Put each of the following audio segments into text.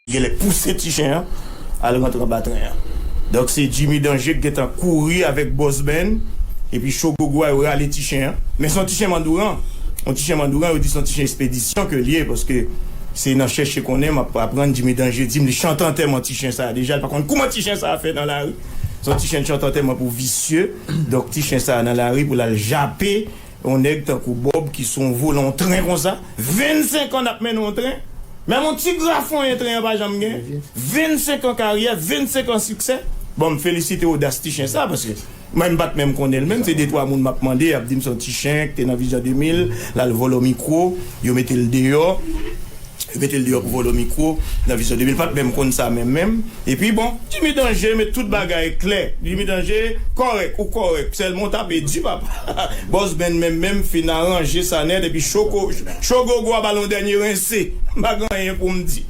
Genlè pouse ti chen an al rantre anba tren an. Donk se Jimmy Danger ki gentan kouri avèk Boss Ben epi Chogogo a yo rale ti chen an. Men se yon ti chen mandouran. Yon ti chen mandouran yo di se yon ti chen espedisyon ke l ye paske se nan chèche konnen m ap aprann Jimmy Danger di m li chante antèman ti chen sa a deja l pa konn kouman ti chen sa a fè nan lari. Se yon ti chen chante antèman pou visye. Donk ti chen sa a nan lari pou l al jape. Yon nèg tankou Bob ki sou yon volan yon tren konsa, 25 an nap mennen yon tren, menm yon ti grafonyen tren an pa janm gen, 25 an karyè, 25 an siksè, bon m felisite odas ti chen sa paske mwen m pat menm konnen l menm se de twa moun map mande yap dim son ti chen ki te nan vizyon 2000 lal vòlò mikwo yo mete l deyò. Yo mete l deyò pou vòlò mikwo nan Vizyon 2000 pat menm konn sa menm menm epi bon. Jimmy Danger met tout bagay klè. Jimmy Danger kòrèk ou kòrèk sèlman ou tape di papa Boss Ben menm menm fin aranje sa nèt epi Choco Cho Gogo a ba l yon dènye rense m pa gen anyen pou m di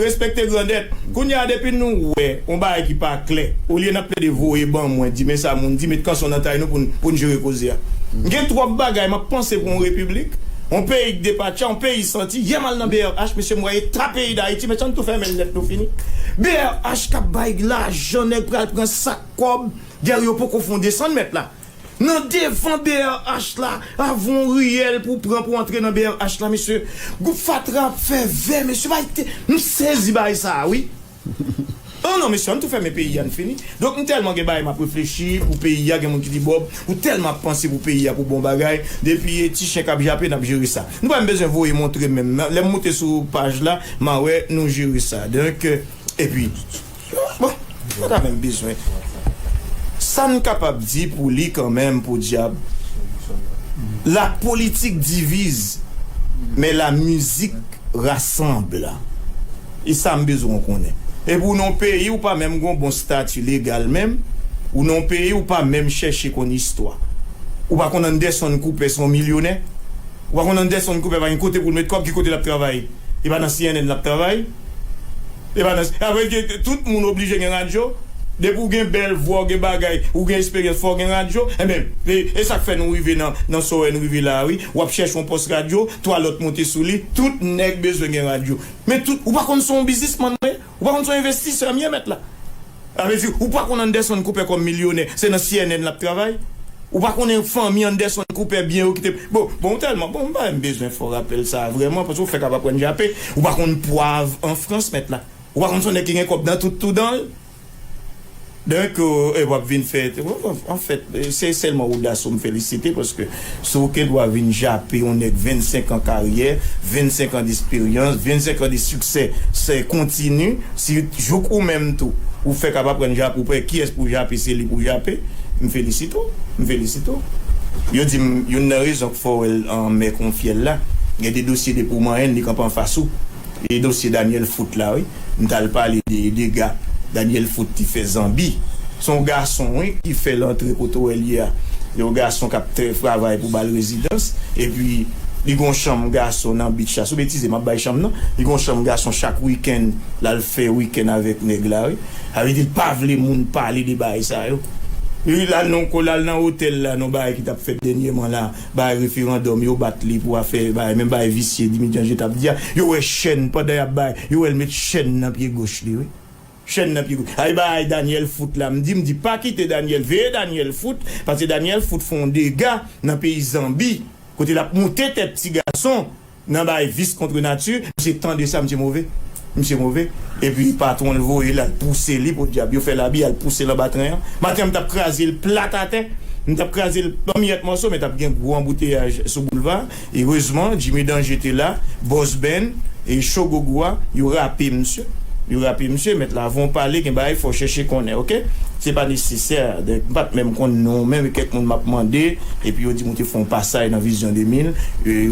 Respekte grandèt Kounye a depi nou wè yon bagay ki pa klè olye n ap plede voye ban mwen di men sa moun di met kanson nan tay nou pou n pou n jere koze a M gen twòp bagay m ap panse pou yon repiblik On peyi k depatcha, on peyi santi, yè m al nan brh mesye m wè eta peyi dayiti, mesye ann tou fèmen l nèt nou fini. Brh k ap bay lajan nèg pral pran sak kòb gèl yo poko fon desann mèt la nan devan brh la avw on riyèl pou w pran pou w antre nan brh la mesye gwoup fatra ap fè vè mesye bay te m sezi bay sa wi. An non mesye ann tou fèmen peyi a n fini donk m tèlman gen bagay map reflechi pou peyi a gen moun ki di Bob ou tèlman ap panse pou peyi a pou bon bagay depi e ti chen kap jape nap jere sa nou pa menm bezwen voye montre m menm lèm moute sou paj la ma wè nou jere sa donk epi bon nou pa menm bezwen sa n kapab di pou li kanmenm podyab la politik divize men la mizik rasanble. E sam bezwen w konnen. Epi w nan w peyi w pa menm gen w bon stati legal menm, w nan w peyi w pa menm chèche konn istwa. Ou pa konn Anderson Cooper se yon milyonè? Ou pa konn Anderson Cooper pa gen kote pou l met kòb, ki kote l ap travay? E pa nan cnn l ap travay? E pa nan, apre l gen, tout moun oblije gen radyo? Depi w gen bèl vwa, w gen bagay, ou gen esperyans fò w gen radyo? Enben, e sa k fè nou rive nan, nan Soeur N rive la a wi. W ap chèche yon pòs radyo, 3 lòt monte sou li. Tout nèg bezwen gen radyo. Men tout, ou pa konn son bizismann mwen ye? Ou pa konn son envestisè m ye mèt la? Sa vle di, ou pa konn Anderson Cooper kòm milyonè, se nan cnn l ap travay? Ou pa konnen fanmi Anderson Cooper, byen yo ki te Bon, bon ou tèlman, bon m pa menm bezwen fè w rapèl sa a vrèman, paske ou fèk ap aprann jape. Ou pa konn pwav an Frans mèt la? Ou pa konn son nèg ki gen kòb nan tout tou dan l? Dèk e wap vin fè anfèt se sèlman ou Daso m felisite paske si w gen dwa vin jape yon nèg 25 an karyè 25 an desperyans 25 an de siksè sè kontini si jouk ou menm tou ou fèk ap aprann jape ou pè kiyès pou w jape se li pou w jape m felisite w m felisite w yo di m youn nan rezon k fè w wè l anmè kon fyèl la gen de dosye depi w manyen l li kanpe anfas ou. E dosye Daniel foot la wi. M tal pale de dega Daniel foot t fè zanbi. Se yon gason wi ki fèl antre kote wèl ye a. Yon gason kap trè travay pou bal rezidans. Epi li gen yon chanm gason nan beach la. Sou betize map bay chanm nan. Li gen yon chanm gason chak weekend lal fè weekend avèk nèg la wi. Sa vle di l pa vle moun pale de bagay sa yo. Li lal nan yon ko lal nan otèl la nan yon bagay ki tap fèt dènyèman la. Bagay referandòm yo bat li pou afè bagay menm bagay visye Dimityanje tap di a yo wè chèn pandan yap bay yo wèl met chèn nan pye goch li wi chèn nan pye goch ay bagay Daniel fout la mdi mdi pa kite Daniel veye Daniel fout paske Daniel fout fon dega nan peyi zanbi kote lap moute tèt ti gason Nan bay vice contre nature. Misye tande sa misye move misye move epi patron l voye l al pouse li podyab yo fè labi al pouse l anba tren an maten an m tap kraze l plat atè m tap kraze l an miyèt mòso men tap gen gwo anbouteyaj sou boulva a erezman Jimmy Danger te la Boss Ben e Cho Gogo a yo rape misye yo rape misye mèt la avan w pale gen bagay fò w chèche konnen ok se pa nesesè m pat menm konn non w men kèk moun map mande. Epi yo di m ou te fè yon pasaj nan Vision 2000,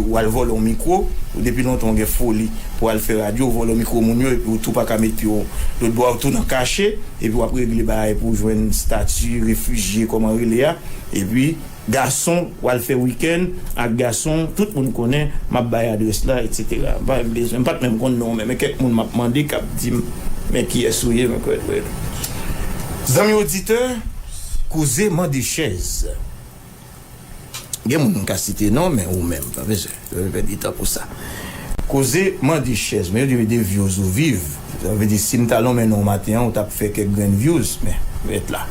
ou al vòlè yon mikwo, ou depi lontan ou gen foli pou al fè radyo, ou vòlè mikwo moun yo epi ou tou pa ka met pye w lòt bò a, ou tou nan kache, epi w ap regle bagay pou w jwenn stati refijye kòman rele a, epi gason w al fè wikenn ak gason tout moun konnen, m ap bay adrès la etc. M pa menm bezwen, m pa t menm konn non w men, men kèk moun m ap mande k ap di m men kiyès ou ye, men kiyès ou ye. Zanmi oditè! Koze mande chèz. Gen moun m ka site non men ou menm pa bezwen pèdi tan pou sa. Koze mande chèz men yo di de vyouz ou viv sa vle di si m ta lonmen non w maten an ou ta fè kèk grenn vyouz men ret la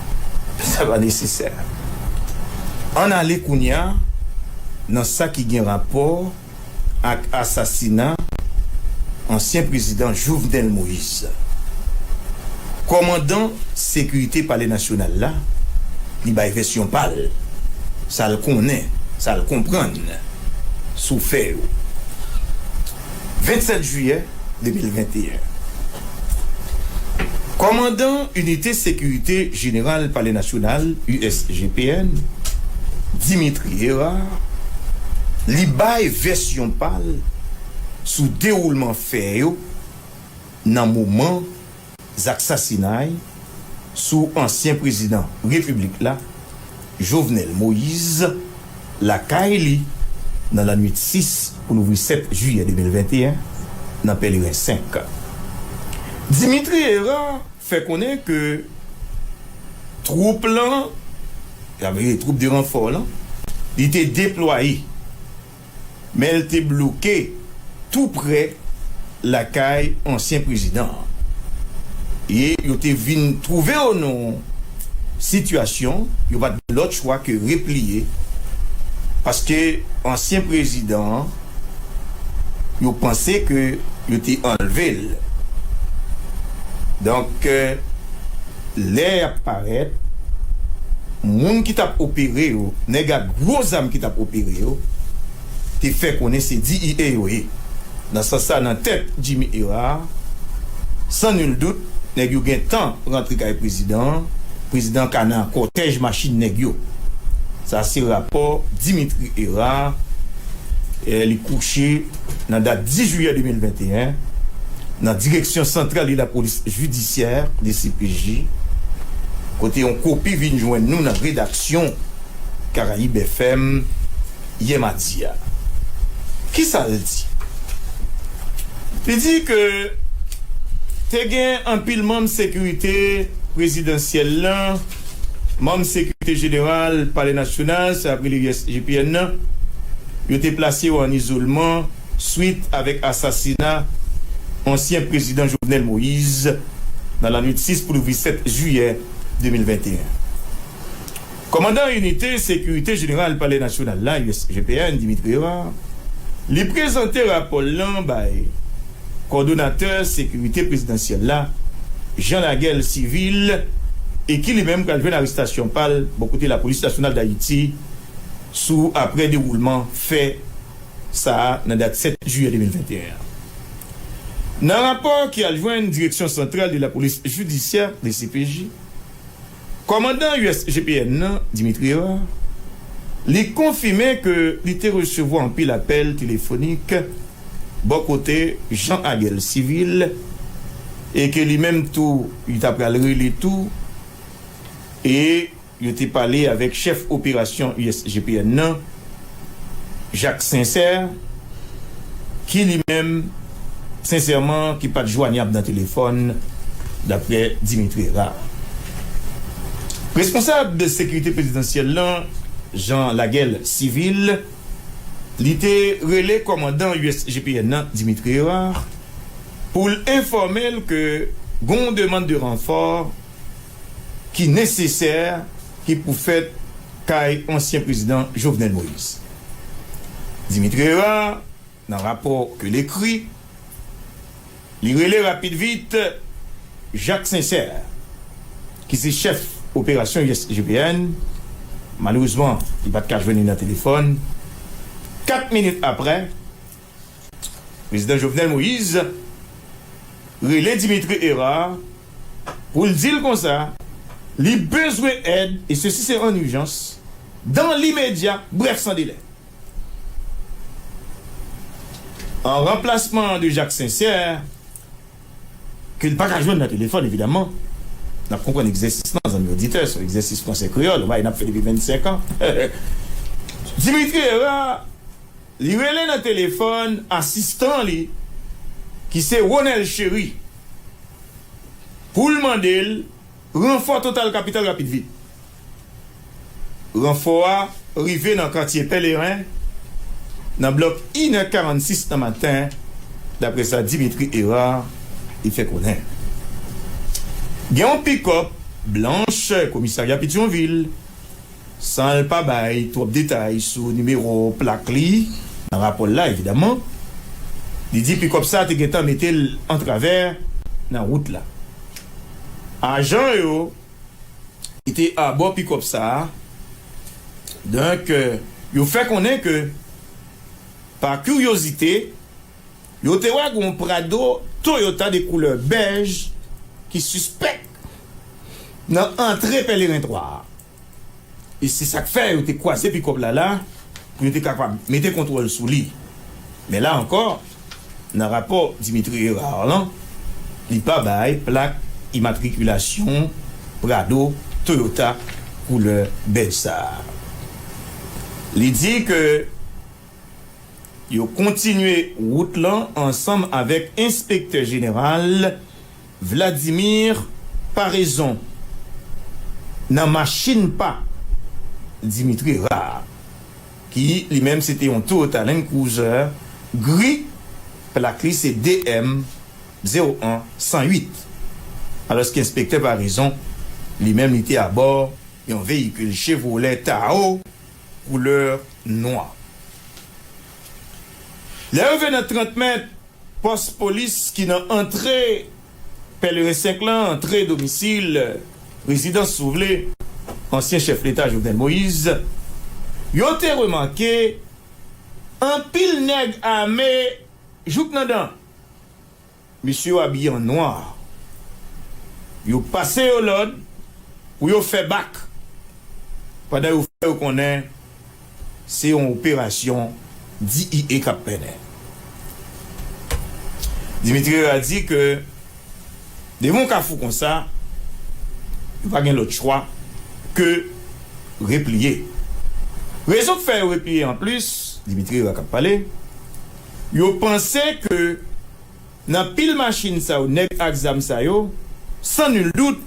sa pa nesesè. Ann ale kounya nan sa ki gen rapò ak asasina ansyen prezidan Jovenel Moise. Kòmandan sekirite palè nasyonal la, li bay vèsyon pa l, sa l konnen, sa l konprann sou fè yo. 27 jiyè. 2021. Kòmandan Inite Sekirite Jeneral Palè Nasyonal, USGPN, Dimitri Herard, li bay vèsyon pa l sou dewoulman fè yo nan moman Zak sasinay sou ansyen prezidan repiblik la, Jovenel Moise, lakay li nan lannuit 6 pou louvri 7 jiyè 2021 nan Pèleren 5. Dimitri Herard fè konnen ke twoup lan, sa vle di twoup de ranfò lan, li te deplwaye. men l te bloke tou prè lakay ansyen prezidan an e yo te vin twouve yo nan yon sitiyasyon yo pa t gen lòt chwa ke repliye paske ansyen prezidan an yo panse ke yo te anlve l donk. Lè yap parèt, moun ki tap opere yo, nèg ak gwo zam ki tap opere yo, te fè konnen se DEA yo ye. Nan sans sa, nan tèt Jimmy Herard, san nul doute, nèg yo gen tan rantre kay prezidan an, prezidan an ka nan kòtèj machin nèg yo. Sa se rapò Dimitri Herard, li kouche. Nan dat 10 jiyè 2021, nan Direksyon Santral de la Police Judiciaire, dcpj, kote yon kopi vin jwenn nou nan redaksyon Caraïbes FM yè madi a. Ki sa l di? Li di ke te gen anpil manm sekirite prezidansyèl lan, manm sekirite jeneral Palè Nasyonal, sa y ap rele USGPN nan, Yo te plase yo an izolman swit avèk asasina ansyen prezidan Jovenel Moise nan lanwit 6 pou louvri 7 jiyè 2021. Kòmandan inite sekirite jeneral Palè Nasyonal la, USGPN, Dimitri Herard, li prezante rapò l lan bay kòdonatè sekirite prezidansyèl la, Jean Laguel Civil, e ki li menm pral jwenn arestasyon pa l bò kote Lapolis Nasyonal Dayiti, sou aprè dewoulman fè sa a nan dat 7 jiyè 2021 an. Nan rapò ki al jwenn Direction Centrale de la Police Judiciaire, dcpj, kòmandan USGPN nan, Dimitri Herard, li konfime ke li te resevwa anpil apèl telefonik bò kote Jean Aguel Civil e ke li menm tou li ta pral rele tou e Yo te pale avèk chèf operasyon USGPN nan, Jacques Sincère, ki li menm, sensèman, ki pat jwanyab nan telefòn, daprè Dimitri Herard. Responsab sekirite prezidansyèl lan, Jean Laguel Civil, li te rele kòmandan USGPN nan, Dimitri Herard, pou l enfòme l ke gon demann de ranfò, ki nesesè ki pou fèt kay ansyen prezidan Jovenel Moïse. Dimitri Herard, nan rapò ke l ekri, li rele rapid vit Jacques Sincère, ki se chèf operasyon USGPN, malerezman li pa t ka jwenn li nan telefòn, 4 minit aprè, Prezidan Jovenel Moise rele Dimitri Herard pou l di l konsa li bezwen èd e sesi se an ijans, dan limedya, brèf san delè. An ranplasman de Jacques Sincère, ke n pa ka jwenn nan telefòn evidaman, n ap konprann egzèsis lan zanmi oditè, se yon egzèsis franse-kreyòl, bagay n ap fè depi 25 an, Dimitri Herard, Li rele nan telefòn asistan li ki se Ronel Chéry pou l mande l ranfò total kapital rapid vit. Ranfò a rive nan katye Pèleren nan blòk inè 46 nan maten daprè sa Dimitri Hérard te fè konnen. Gen yon pikòp blanch komisarya Petyonvil San l pa bay twòp detay sou nimewo plak li nan rapò l la evidaman, li di pikòp sa te gentan mete l antravè nan wout la. Ajan yo ki te abò pikòp sa, donk yo fè konnen ke pa kiryozite, Yo te wè gen yon Prado Toyota de koulè bèj ki sispèk nan antre Pèleren 3 a. E se sa k fè yo te kwaze pikòp la la pou yo te kapab mete kontwòl sou li. Men la ankò, nan rapò Dimitri Herard lan, li pa bay plak imatrikilasyon Prado Toyota koulè bèj sa a. Li di ke. Yo kontinye wout lan ansanm avèk enspektè jeneral Vladimir Paraison nan machin pa Dimitri Ra a, ki li menm se te yon Toyota Land Cruiser gri, plak li se DM 01 108, alòske enspektè Paraison li menm li te abò yon veyikil Chevrolet Tahoe. koulè nwa. Lè yo rive nan 30 mèt pòs polis ki nan antre Pèleren 5 lan, antre domisil, rezidans si w vle, ansyen chèf leta Jovenel Moïse, yo te remake anpil nèg ame jouk nan dan. Mesye yo abiye an nwa. Yo pase yo lòd pou yo fè bak pandan yo fè yo konnen se yon operasyon DIE k ap mennen. Dimitri Herard di ke devan yon kafou konsa, yo pa gen lòt chwa ke repliye. Rezon k fè yo repliye anplis, Dimitri Herard k ap pale, Yo panse ke nan pil machin sa yo nèg ak zam sa yo, san nul doute,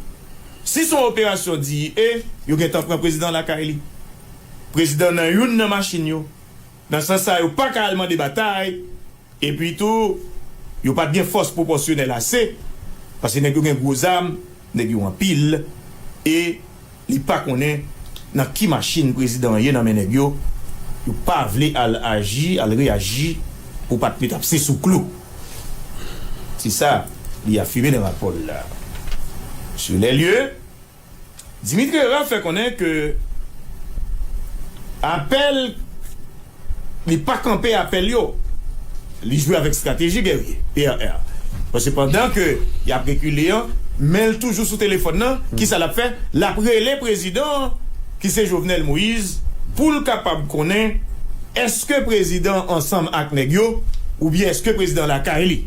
si son operasyon DIE, yo gentan pran prezidan lakay li. Prezidan nan youn nan machin yo. Nan sans sa yo paka al mande batay, epi tou yo pat gen fòs pwopòsyonèl ase, paske nèg yo gen gwo zam, Nèg yo anpil e li pa konnen nan ki machin prezidan an ye nan men nèg yo, yo pa vle al aji, al reyaji pou pat met apse sou klou. Se sa li afime nan rapò l la. Sur les lieux, Dimitri Herard fè konnen ke apèl Li pa kanpe apèl yo. Li jwe avèk strateji gèrye, PRR. Paske pandan ke y ap rekile an, men l toujou sou telefòn nan, ki sa l ap fè? L ap rele prezidan an, ki se Jovenel Moïse, pou l kapab konnen èske prezidan an ansanm ak nèg yo, oubyen èske prezidan an lakay li.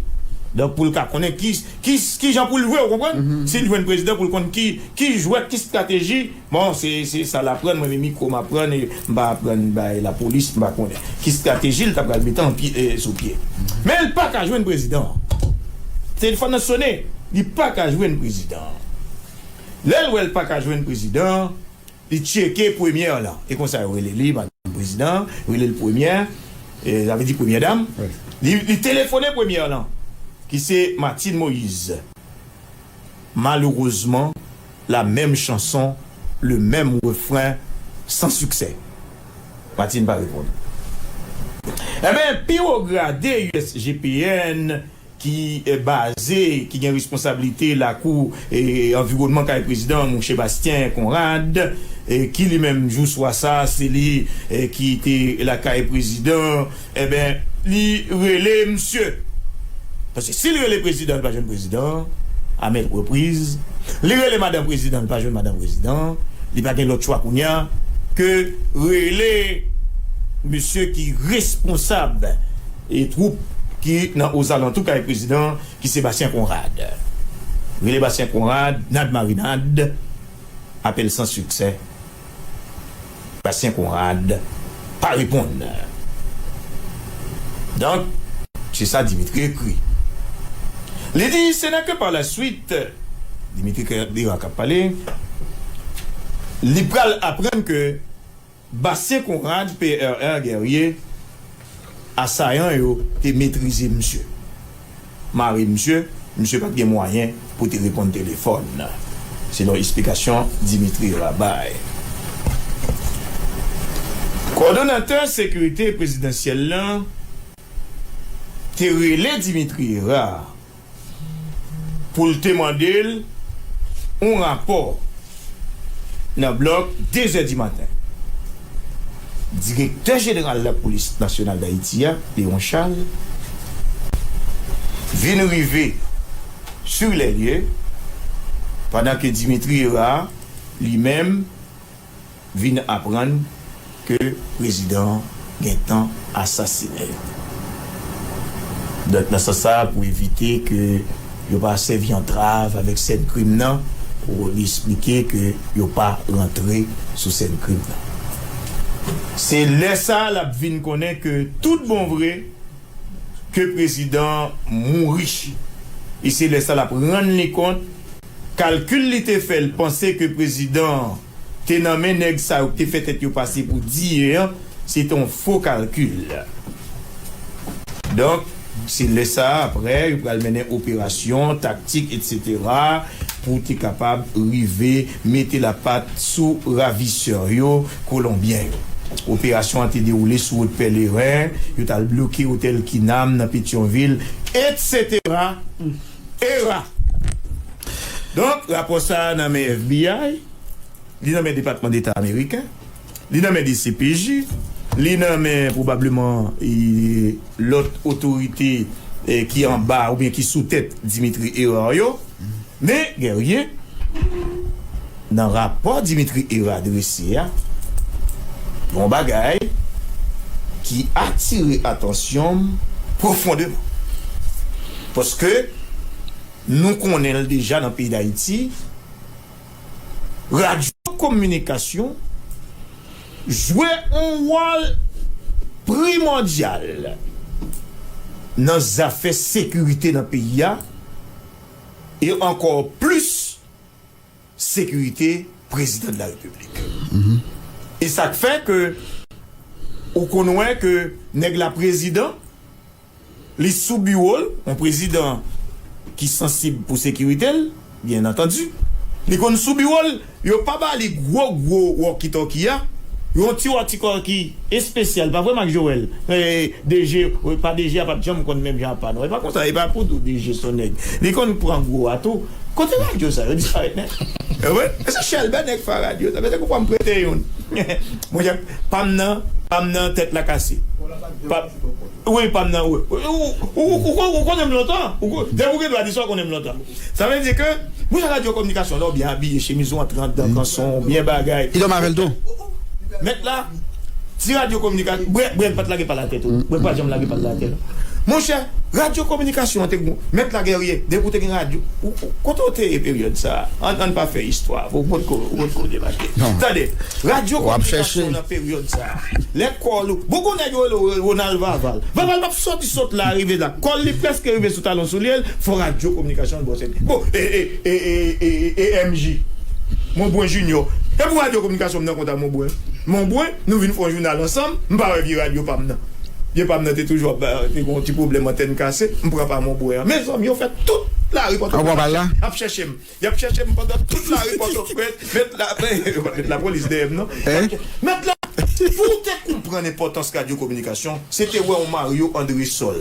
Donk pou l ka konnen ki, ki, ki jan pou l jwe, ou konprann? Si l jwenn prezidan pou l konn ki, ki jwèt, ki strateji. Bon se se sa l aprann mwen menm micro m aprann e m pa aprann bay lapolis m pa konnen ki strateji l ta pral mete an pye sou pye men l paka jwenn prezidan an telefòn nan sone li paka jwenn prezidan an lè l wè l paka jwenn prezidan an li tcheke premyè lan e konsa yo rele li madanm prezidan an yo rele l premyè sa vle di premyè dam li telefone premyè lan ki se Martine Moïse. malerezman la menm chanson le menm refren san siksè. Martine pa reponn. Enben pi wo grade usgpn ki baze ki gen responsablite lakou anviwònman kay prezidan an mouche Bastien Conrad ki li menm jou swa sa se li ki te lakay prezidan Enben li rele misye. Paske si li rele prezidan li pa jwenn prezidan a mèt repriz. Li rele madan prezidan li pa jwenn madan prezidan. Li pa gen lòt chwa kounye a ke rele misye ki responsab e twoup ki nan ozalantou kay prezidan ki se Bastien Conrad. Rele Bastien Conrad nad marinad. Apèl san siksè. Bastien Conrad pa reponn. Donk, se sa Dimitri ekri. Li di, se nan ke palasuit, Dimitri Kertbira k ap pale, li pral aprann ke Bastien Conrad, PRR Guerrier, asayan yo te metrize misye. mare misye, misye pa t gen mwayen pou te reponn telefòn, selon esplikasyon Dimitri Ra bay. Kòdonatè sekirite prezidansyèl lan te rele Dimitri Ra pou l te mande l yon rapò. nan blòk dezè di maten. Direktè jeneral lapolis nasyonal Dayiti a, Léon Charles, vin rive sur les lieux pandan ke Dimitri Hérard, li menm, vin aprann ke prezidan an gentan asasine yo. Donk nan sans sa a pou evite ke yo pa sèvi antrav avèk sèn krim nan, li esplike ke yo pa rantre sou sèn krim nan. Se lè sa a l ap vin konnen ke tout bon vre ke prezidan an mouri. E se lè sa l ap rann li kont kalkil li te fè l panse ke prezidan an. te nan men nèg sa yo ki te fè tèt yo pase pou diye an, se te yon fo kalkil. Donk, se lè sa a aprè yo pral mennen operasyon, taktik etsetera pou te kapab rive mete lapat sou ravisè yo, kolonbyen yo. Operasyon an te dewoule sou wout Pèleren, yo t al bloke otèl Kinam nan Petyonvil, etsetera. Era! Donk, rapò sa a nan men FBI, li nan men Depatman Deta ameriken, li nan men dcpj, li nan men pwobableman lòt otorite ki anba oubyen ki sou tèt Dimitri Herard yo. Men, Guerrier. Nan rapò Dimitri Herard drese a, gen yon bagay ki atire atansyon m pwofondeman. Paske nou konnen l deja nan peyi Dayiti, radyo kominikasyon jwe yon wòl primòdyal nan zafè sekirite nan peyi a e ankò plis, sekirite prezidan de la repiblik e sak fè ke ou konn wè ke nèg la prezidan li sou biwol yon prezidan ki sansib pou sekiritel byen antandi li konn sou biwol yo pa ba li gwo gwo wòki tòki a yon ti wòki tòki espesyal pa vre Mak Joel DG pa DG a pat janm konn menm jan ak pa nou e pa konsa e pa pou tou DG son nèg li konn pran gwo a tou. Kote radyo sa yo disparèt nèt. Ewe se chèlbè nèg fè radyo sa. Mete koupam prete youn. Monchè pam nan pam nan tèt la kase. Pam wi pam nan wi. Ou konnen m lontan. Depi ou gen dwa di sa ou konnen m lontan. Sa vle di ke pou yon radyo kominikasyon la ou byen abiye chemiz ou antre andan kanson ou byen bagay. Li dòmi avèl tou. Mèt la. Ti radyo kominikasyon, brèk, brèk pa t lage pa l atè tou. Brèk pa janm lage pa l atè non. Monchè, radyo kominikasyon an te gou. Mèt la Guerrier, depi w te gen radyo, ou, ou, kote w te ye peryòd sa a? An, an n pa fè istwa, ou pa t ko, ou pa t ko debake. Tande, radyo kominikasyon nan peryòd sa a, lè kòl ou, gou gou nèg yo rele w Ronald Vaval. Vaval pa p sòti sot la rive la. Kòl li prèske rive sou talon soulye l, fò radyo kominikasyon an bwòse li. Bon, e, e. EMJ, Monbrun Junior, E pou radyo kominikasyon m nan kont a Monbrun? Monbrun, Nou vin fè yon jounal ansanm, m pa wè vye radyo pa m nan. Vye pa m nan te toujou ap, te gen yon ti pwoblèm antèn kase, m pran pa Monbrun an. Mezanmi, yo fè tout lari Pòtoprens ap chèche m. Y ap chèche m pandan tout lari Pòtoprens, mèt la, yo pa met lapolis dèyè m non. Mèt la, Pou w te konprann enpòtans radyo kominikasyon, se te wè yon Mario Andresol,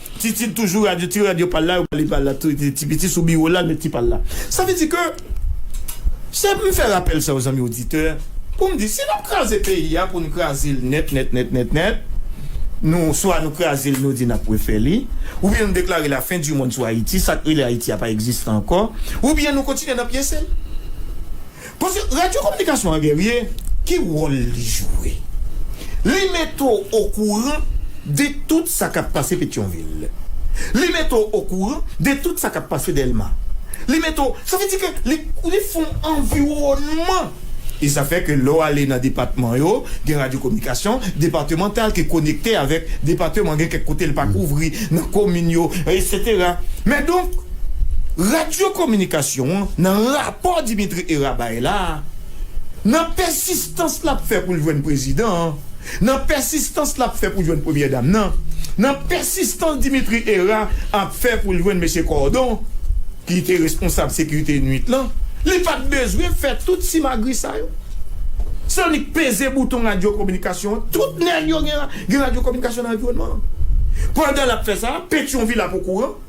Titid toujou radio ti radio pal la yo bali pal la tou ti piti sou biwo lal met ti pal la sa vle di ke se m fè rapèl sa yo zanmi oditè poum di si nap kraze peyi a poun krazel nèt nèt nèt nèt nèt nou swa nou krazel nou di nap refè li oubyen nou deklare la fen di mond sou ayiti sak rele ayiti a pa egziste ankò oubyen nou kontinye nan pyesel. Paske radyo kominikasyon an Guerrier ki wòl li jwe? Li mete w okouran de tout sa k ap pase Petyonvil. Li mete w okouran de tout sa k ap pase Dèlma. Li mete w, sa vle di ke li li fè w anviwònman. E sa fè ke lè w ale nan depatman yo, gen radyo kominikasyon depatemantal ki konekte avèk depateman, gen kèk kote l pa kouvri nan komin yo, esetera. Men donk, radyo kominikasyon an nan ra. Paw Dimitri Herah bay la, nan pèsistans l ap fè pou l jwenn prezidan an, nan pèsistans l ap fè pou jwenn premyè dam nan, nan pèsistans Dimitri Herah ap fè pou l jwenn mesye Cordon ki te responsab sekirite nuit lan, li pa t bezwen fè tout simagri sa yo. Se annik peze bouton radyokominikasyon an, tout nèg yo gen radyokominikasyon nan anviwònman an. Pandan l ap fè sa, Petyonvil ap okouran,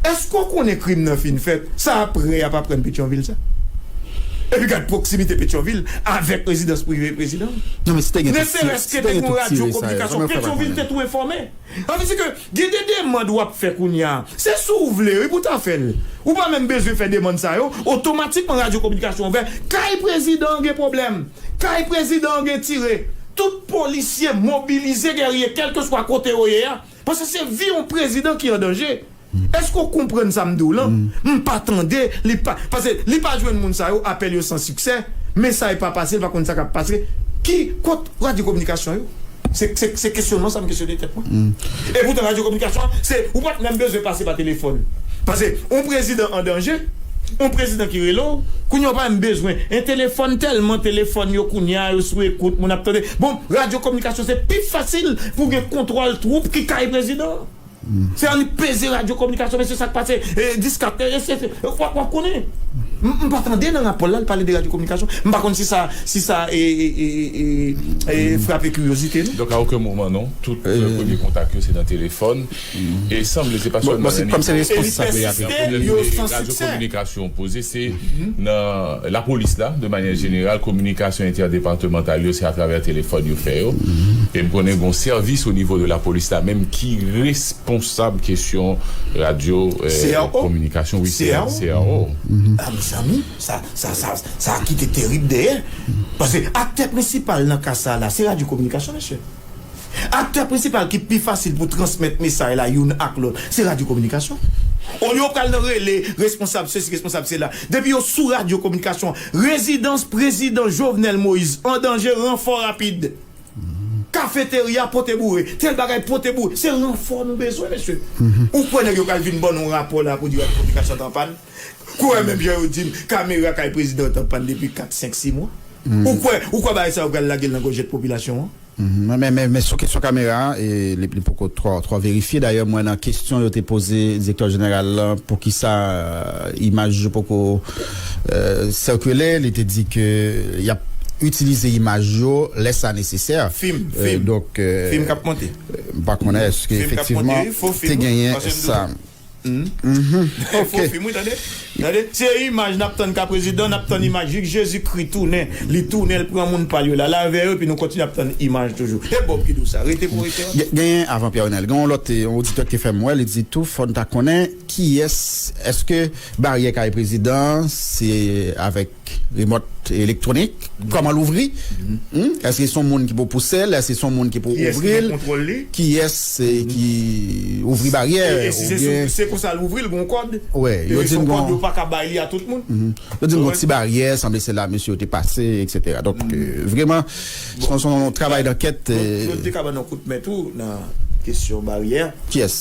Eske w konnen krim nan fin fèt, sa aprè y ap aprann Petyonvil sa? Epi gad pwoksimite Petyonvil avèk rezidans prive prezidan an. Ne serès ke te gen yon radyo kominikasyon, Petyonvil te tou enfòme. Sa vle di ke gen de demand w ap fè kounye a, se si w vle wi pou w ta fè l. Ou pa menm bezwen fè demand sa yo, otomatikman radyo kominikasyon ouvè, kay prezidan an gen pwoblèm, kay prezidan an gen tire, tout polisye mobilize gèrye kèlkeswa kote yo ye a, Paske se vi yon prezidan ki an danje. Eske ou konprann sa m di w lan? M pa tande li pa paske li pa jwenn moun sa yo apèl yo san siksè, mesay pa pase li pa konn sa k ap pase. Ki kot radyo kominikasyon yo? Se se kesyonman sa m kesyone tèt mwen. Epoutan radyo kominikasyon se ou pa t menm bezwen pase pa telefòn. Pase yon prezidan an danje, yon prezidan ki rele w, kounye a ou pa menm bezwen yon telefòn tèlman telefòn yo kounye a yo sou ekout moun ap tande bon. Radyo kominikasyon se pi fasil pou gen kontwòl twoup ki kay prezidan an. Se an li peze radyo kominikasyon mesye sa k pase diska tè e se w ap konnen. M pa tande nan rapò l la l pale de radyo kominikasyon. M pa konn si sa si sa frape kiryozite nou. Donk a oken moman non, tout premye kontak yo se nan telefòn. E sanble se pa sèlman nan nivo radyo kominikasyon poze, se nan lapolis la de manyè jeneral, kominikasyon entèdepartemantal yo se atravè telefòn yo fè yo. E m konnen gon sèvis o nivo de lapolis la menm ki responsab kesyon radyo kominikasyon wi CRO. A mezanmi sa sa kite terib dèyè. Pase aktè prensipal nan ka sa la se radyo kominikasyon mesye. Aktè prensipal ki pi fasil pou transmèt mesay la youn ak lòt, se radyo kominikasyon. Olye yo pral nan rele responsab sesi, responsab sela, depi yo sou radyo kominikasyon, rezidans prezidan Jovenel Moise an danje, ranfò rapid. Kafeterya pote boure, tèl bagay pote boure. Se ranfò nou bezwen, mesye. Ou kwè nèg yo pral vin ban nou rapò la pou di radyo kominikasyon an te anpàn? Ou wè menm jan yo dim kamera kay prezidan t anpann depi 4 5 6 mwa ou kwè ou kwè bagay sa yo pral lagel nan gòjèt popilasyon an? Mwen men men sou kesyon kamera a e li poko twò twò verifye dayè mwen nan kesyon yo te poze direktè jeneral lan poukisa imaj yo poko sikile li te di ke yap itilize imaj yo lè sa nesesè Fim fim fim kap monte? Mpa konnen eske efektivman te genyen sa. Humm fo film wi tande tande se imaj nap tann ka prezidan nap tann imaj lik jezi kri tounen li tounen li pran moun pal yo lala avè yo epi nou kontinye ap tann imaj toujou e bob ki di w sa rete pou rete an. Genyen avan Pierre Renel gen yon lòt yon oditè ki te fèm wè li di tou fòn ta konnen kiyès eske baryè kay prezidan se avèk Remòt elektwonik, kòman l ouvri? Èske se yon moun ki pou pouse l? Èske se yon moun ki pou ouvri l? Kiyès ki ouvri baryè? Se konsa l ouvri l, gen yon kòd? Yo di m gen yon ti baryè, sanble se la mesye yo te pase, eksetera. Donk, vreman, se yon travay dankèt. Yo te ka ban nou yon kout men tou nan kesyon baryè. Kiyès?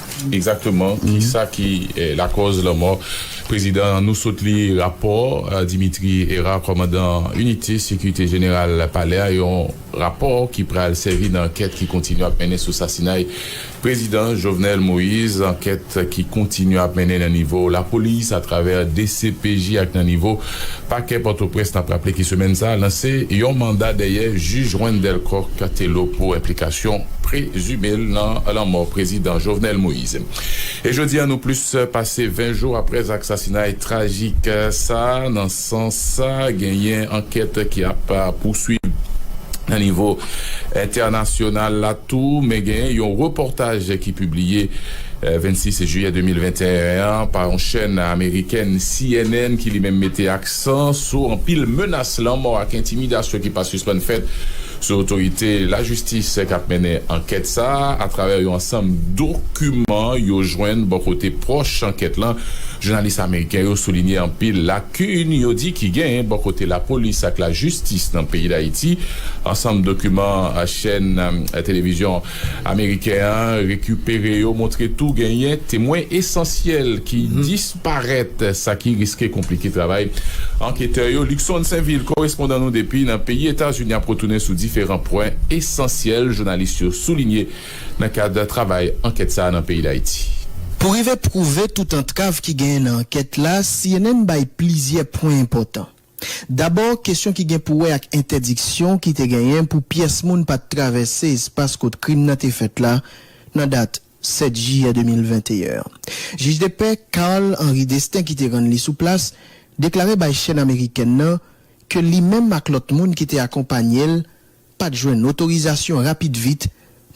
Egzakteman, ki sa ki lakòz lanmò prezidan an? Nou sot li rapò Dimitri Herard, kòmandan inite sekirite jeneral palè a, yon rapò ki pral sèvi nan ankèt ki kontinye ap mennen sou sasinay prezidan Jovenel Moïse, ankèt ki kontinye ap mennen nan nivo lapolis, atravè dcpj ak nan nivo Pakè Pòtoprens nap raple ki semèn sa lanse yon manda dèyè jij Wendelle Coq Thelo pou enplikasyon prezime l nan lanmò prezidan Jovenel Moise. E jodi an nou plis pase 20 jou aprè zak sasinay trajik sa, nan sans sa genyen ankèt ki ap pouswiv nan nivo entènasyonal la tou men genyen yon repòtaj ki pibliye 26 jiyè 2021 an pa yon chèn amerikèn cnn ki li menm mete aksan sou anpil menas lanmò ak entimidasyon ki pa sispann fèt sou otorite lajistis k ap mennen ankèt sa a atravè yon ansanm dokiman yo jwenn bò kote pwòch ankèt lan. Jounalis ameriken yo soulinye anpil lakin yo di ki genyen bò kote lapolis ak lajistis nan peyi Dayiti. Ansanm dokiman chèn televizyon. Ameriken an rekipere yo montre tou genyen temwen esansyèl ki disparèt, sa ki riske konplike travay anketè yo. Luckson Sainville, korespondan nou depi nan peyi Etazini ap retounen sou diferan pwen esansyèl jounalis yo soulinye nan kad travay ankèt sa a nan peyi Dayiti. Pou rive pwouve tout antrav ki genyen nan ankèt la, cnn bay plizyè pwen enpòtan. Dabò, kesyon ki gen pou wè ak entèdiksyon ki te genyen pou pyès moun pa t travèse espas kot krim nan te fèt la nan dat 7 jiyè 2021 an. Jijdepè Carl Henri Destin ki te rann li sou plas, deklare bay chèn amerikèn nan ke li menm ak lòt moun ki te akonpanye l pa t jwenn otorizasyon rapid vit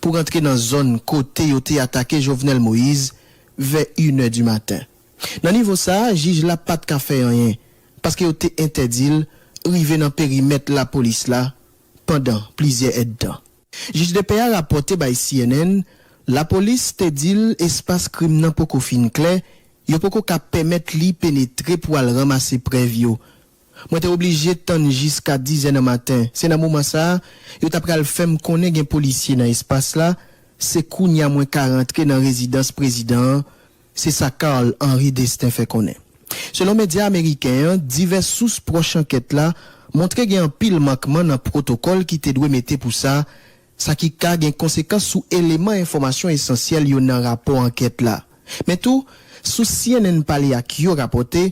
pou rantre nan zòn kote yo te atake Jovenel Moïse vè inè di maten. Nan nivo sa a, jij la pa t ka fè anyen, paske yo te entèdi l rive nan perimèt lapolis la pandan plizyè èdtan. Jij depè a rapòte bay cnn lapolis te di l espas krim nan poko fin klè, yo poko ka pèmèt li penetre pou al ranmase prèv yo. Mwen te oblije tann jiska dizè nan maten, se nan moman sa a yo ta pral fè m konnen gen polisye nan espas la, se kounya mwen ka rantre nan rezidans prezidan an, Se sa Carl Henri Destin fè konnen. Selon medya ameriken an, divès sous pwòch ankèt la montre gen anpil mankman nan pwotokòl ki te dwe mete pou sa, sa ki ka gen konsekans sou eleman enfòmasyon esansyèl yo nan rapò ankèt la. Men tou, sous cnn pale ak yo rapòte,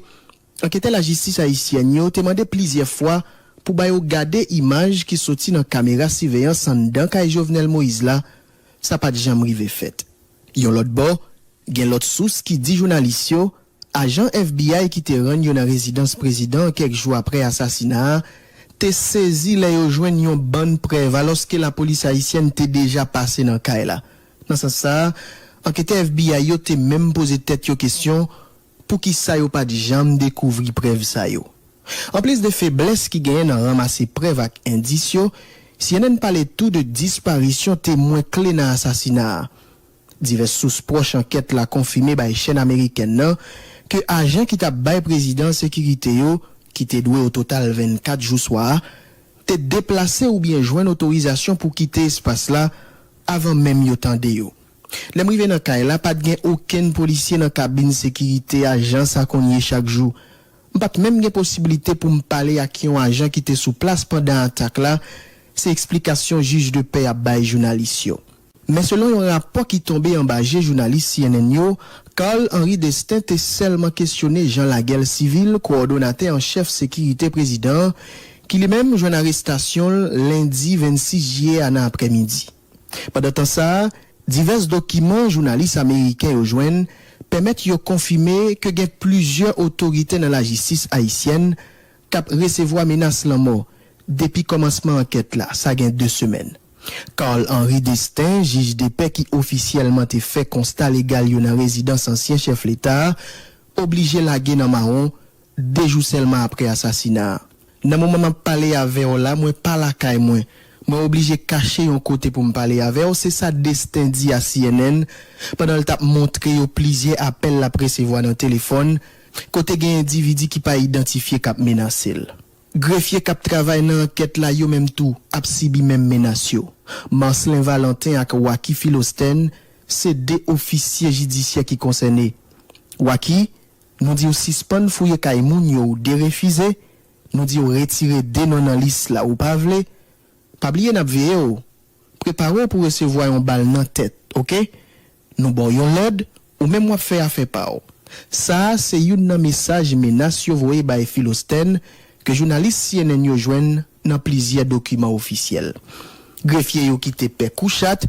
Anketè lajistis ayisyèn yo te mande plizyè fwa pou ba yo gade imaj ki soti nan kamera siveyans anndan kay Jovenel Moïse la, sa pa t janm rive fèt. Yon lòt bò, gen lòt sous ki di jounalis yo, ajan FBI ki te rann yo nan rezidans prezidan an kèk jou aprè asasina a, te sezi lè yo jwenn yon bann prèv alòske lapolis ayisyèn te deja pase nan kay la. Nan sans sa a, anketè FBI yo te menm poze tèt yo kesyon Poukisa yo pa t janm dekouvri prèv sa yo? Anplis de feblès ki genyen nan ranmase prèv ak endis yo, cnn pale tou de disparisyon temwen kle nan asasina a. Divès sous pwòch ankèt la konfime bay chèn amerikèn nan ke ajan ki t ap bay prezidan an sekirite yo, ki te dwe ototal 24 jou swa a, te deplase oubyen jwenn otorizasyon pou kite espas la avan menm yo tande yo. Lè m rive nan kay la, pa t gen okenn polisye nan kabin sekirite a jan sa konn ye chak jou. M pa t menm gen posibilite pou m pale ak yon ajan ki te sou plas pandan atak la, se eksplikasyon jij de pè a bay jounalis yo. Men selon yon rapò ki tonbe anba je jounalis cnn yo, Carl Henri Destin te sèlman kesyone Jean Laguel Civil, kowòdonatè an chèf sekirite prezidan an, ki li menm jwenn arestasyon l lendi 26 jiyè a nan aprèmidi. Pandan tan sa a, divès dokiman jounalis ameriken yo jwenn pèmèt yo konfime ke gen plizyè otorite nan lajistis ayisyèn k ap resevwa menas lanmò depi kòmansman ankèt la, sa gen 2 semèn. Carl Henri Destin, jij depè ki ofisyèlman te fè konsta legal yo nan rezidans ansyen chèf leta a, oblije lage nan mawon 2 jou sèlman aprè asasina a. Nan moman map pale avè w la mwen pa lakay mwen. Mwen oblije kache yon kote pou m pale avè w, se sa Destin di a cnn pandan l tap montre yo plizyè apèl lap resevwa nan telefòn kote gen endividi ki pa idantifye kap menase l. Grefye kap travay nan ankèt la yo menm tou ap sibi menm menas yo. Marcelin Valentin ak Waky Philostène se 2 ofisye jidisyè ki konsène. Waky, Nou diw sispann fouye kay moun yo ou derefize, nou diw retire 2 non nan lis la ou pa vle, pa bliye nap veyew, preparew pou resevwa yon bal nan tèt ok, nou baw yon lòd ou menm wap fè afè paw, sa a se youn nan mesaj menas yo voye bay Philostène ke jounalis cnn yo jwenn nan plizyè dokiman ofisyèl. Grefye yo kite pè kou chat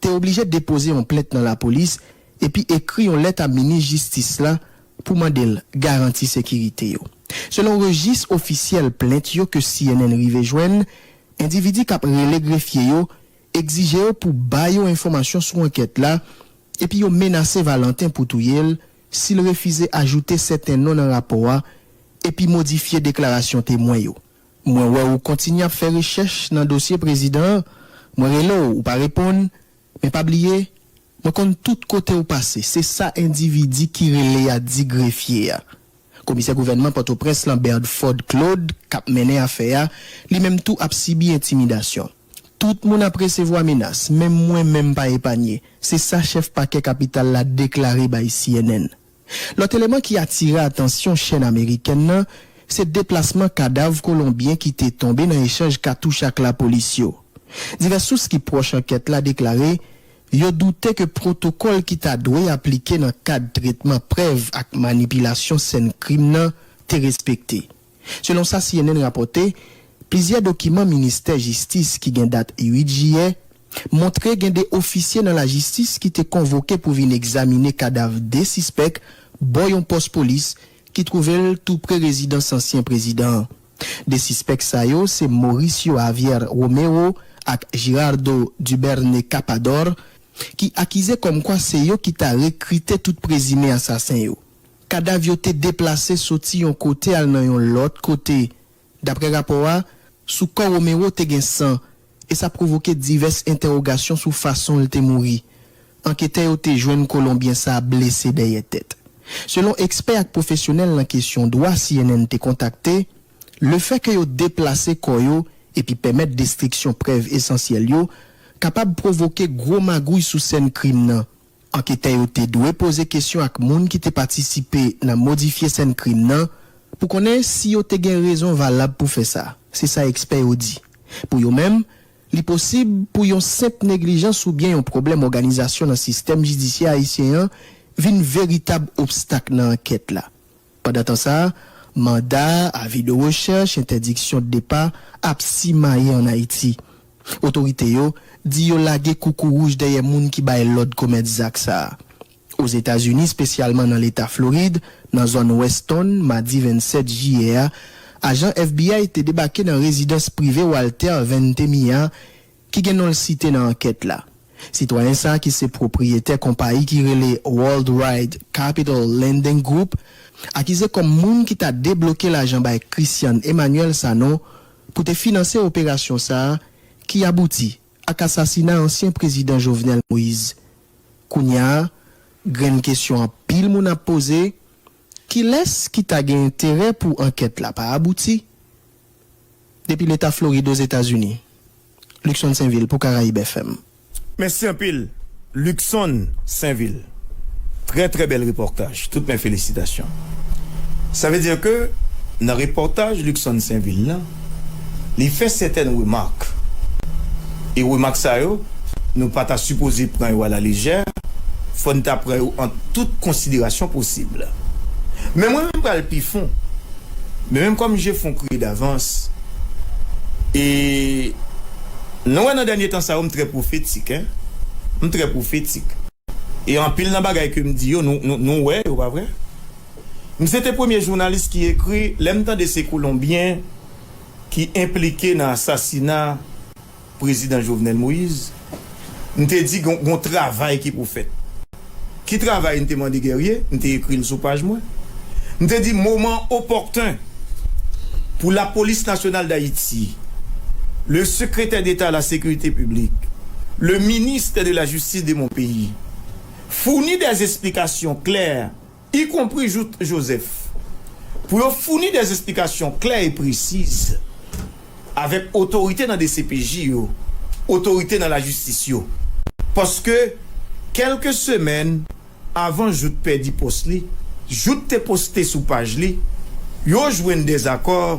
te oblije depoze yon plent nan lapolis epi ekri yon lèt a minis jistis la pou mande l garanti sekirite yo. Selon rejis ofisyèl plent yo ke cnn rive jwenn, endividi k ap rele grefye yo egzije yo pou ba yo enfòmasyon sou ankèt la epi yo menase Valentin pou touye l si l refize ajoute sèten non nan rapò a epi modifye deklarasyon temwen yo. Mwen wè ou kontinye ap fè rechèch nan dosye prezidan an, mwen rele w ou pa reponn, men pa bliye mwen konn tout kote ou pase, se sa endividi ki rele a di grefye a. Komisè gouvènman Pòtoprens lan Berdford Claude k ap mennen afè a, li menm tou ap sibi entimidasyon. Tout moun ap resevwa menas, menm mwen menm pa epanye, se sa chèf pakè kapital la deklare bay cnn. Lòt eleman ki atire atansyon chèn amerikèn nan, se deplasman kadav kolonbyen ki te tonbe nan echanj katouch ak lapolis yo. Divès sous ki pwòch ankèt la deklare yo doute ke pwotokòl ki ta dwe aplike nan kad tretman prèv ak manipilasyon sèn krim nan te respekte. Selon sa cnn rapòte, plizyè dokiman ministè jistis ki gen dat 8 jiyè montre gen 2 ofisye nan lajistis ki te konvoke pou vin egzamine kadav 2 sispèk bò yon pòs polis ki twouve l tou pre rezidans ansyen prezidan an. 2 sispèk sa yo se Mauricio Javier Romero ak Girardo Duberne Capador ki akize kòmkwa se yo ki ta rekrite tout prezime asasen yo. Kadav yo te deplase soti yon kote al nan yon lòt kote. Daprè rapò a, sou kò Romero te gen san, e sa pwovoke divès entèwogasyon sou fason l te mouri. Anketè yo te jwenn Kolonbyen sa a blese dèyè tèt. Selon ekspè ak pwofesyonèl nan kesyon dwa cnn te kontakte, lefèke yo deplase kò yo epi pèmèt destriksyon prèv esansyèl yo kapab pwovoke gwo magouy sou sèn krim nan. Anketè yo te dwe poze kesyon ak moun ki te patisipe nan modifye sèn krim nan pou konnen si yo te gen rezon valab pou fè sa, se sa ekspè yo di. Pou yo menm, li posib pou yon senp neglijans oubyen yon pwoblèm òganizasyon nan sistèm jidisyè ayisyen an vin veritab obstak nan ankèt la. Pandantan sa, manda, avi de rechèch, entèdiksyon de depa ap simaye an Ayiti. Otorite yo di yo lage koukouwouj dèyè moun ki bay lòd komèt zak sa. Ozetazini, spesyalman nan leta Florid, nan zòn Weston, madi 27 jiyè a, ajan FBI te debake nan rezidans prive Walter Ventimiglia ki gen non l site nan ankèt la. Sitwayen sa ki se pwopriyetè konpayi ki rele Worldwide Capital Lending Group, akize kòm moun ki ta debloke lajan bay Christian Emmanuel Sanon pou te finanse operasyon sa ki abouti ak asasina ansyen prezidan Jovenel Moise. Kounya, grenn kesyon anpil moun ap poze, Kilès ki ta gen enterè pou ankèt la pa abouti? Depi Leta Florid Ozetazini. Luckson Sainvil pou Caraibes FM. Mèsi anpil Luckson Sainvil. Trè trè bèl repòtaj. Tout men felisitasyon. Sa vle di ke nan repòtaj Luckson Sainvil lan. li fè sètèn remak, e remak sa yo nou pa ta sipoze pran yo alalejè, fò n ta pran yo an tout konsiderasyon posib. Men mwen menm pral pi fon, men menm kòm je fon kriye davans, e nou wè nan dènye tan sa yo m trè pwofetik, m trè pwofetik, e anpil nan bagay ke m di yo nou wè yo pa vre? M se te premye jounalis ki ekri lè m tande se kolonbyen ki enplike nan asasina prezidan Jovenel Moïse m te di gen yon travay ki pou fèt. Ki travay m te mande Guerrier, m te ekri l sou paj mwen. M te di moman opòten pou lapolis nasyonal dayiti, le sekretè deta a la sekirite piblik, le ministè de la jistis de mon peyi founi dè esplikasyon klè, y konpri Jouthe Joseph, pou yo founi dè esplikasyon klè e presiz avèk otorite nan dcpj yo, otorite nan lajistis yo. Paske, kèlke semèn avan Jouthe pèdi pòs li, Jouthe te poste sou paj li, yo jwenn dezakò,